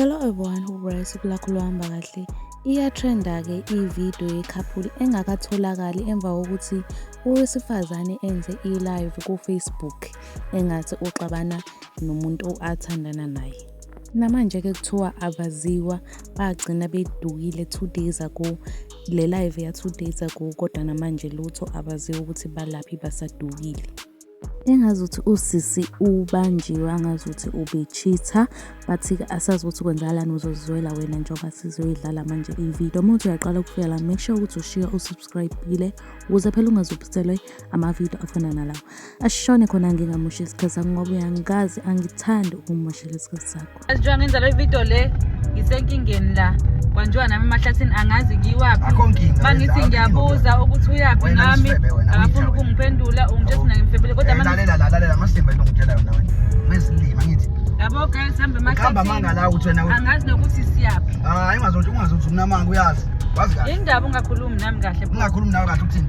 Hello everyone who wears Kulakulwamba kahle. Iyatrenda-ke ividiyo yekhapuli engakatholakali emva kokuthi owesifazane enze i-live ku-Facebook engathi uxabana nomuntu athandana naye. Namanje-ke kuthiwa abaziwa bagcina bedukile two days ago Le live ya two days ago kodwa namanje lutho abaziwa ukuthi balaphi basadukile. Engazuthi usisi ubanjiwe angazuthi ubecheater bathi-ke asazi ukuthi kwenzakalani uzozizwela wena njengoba sizoyidlala manje ividiyo. Uma uthi uyaqala ukufika la make sure ukuthi ushiya usubscribe-ile ukuze phela ungazuphiselwe amavidiyo afana nalawo ashone khona ngingamusha isikhathi sakho ngoba uyangazi angithandi ukumumoshela isikhathi sakho njengoba ngenza le video le ngisenkingeni la kwanjengoba nami emahlathini angazi ngiyiwaphi uma ngithi ngiyabuza ukuthi uyaphi nami akafuni ukungiphendula ungitshesi naye ngimfebele kodwa yabo guys hambe emahlathiniangazi nokuthi siyaphi hayi ungazothi ungazothi unamanga uyazi wazi kahle indaba ungakhulumi nami kahle ungakhulumi nawe kahle ukuthini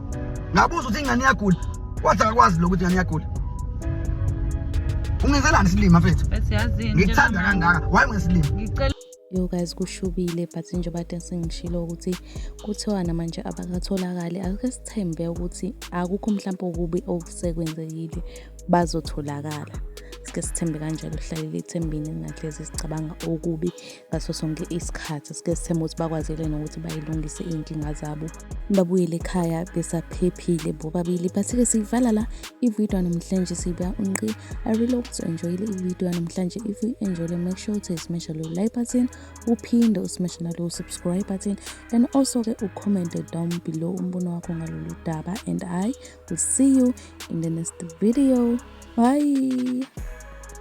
ngabuza ukuthi ingane iyagula wathi akakwazi lokho ukuthi ingane iyagula ungenzelani isilima mfethu ngikuthanda kangaka waye ngesilima yo guys kushubile but njengoba te sengishilo ukuthi kuthiwa namanje abakatholakali ake sithembe ukuthi akukho mhlawumpe okubi okusekwenzekile bazotholakala sike sithembe kanjalo hlalele ithembini ningahlezi sicabanga okubi ngaso sonke isikhathi sike sithemba ukuthi bakwazile nokuthi bayilungise iy'nkinga zabo babuyele ekhaya besaphephile bobabili bathi-ke siyivala la ividiyo namhlanje siba unqi i really hope enjoyile ividiyo namhlanje if you enjoyile make sure ukuthi smasha lo like button uphinde usimeshe nalo subscribe button and also-ke ucommente down below umbono wakho ngalolu daba and i will see you in the next video bye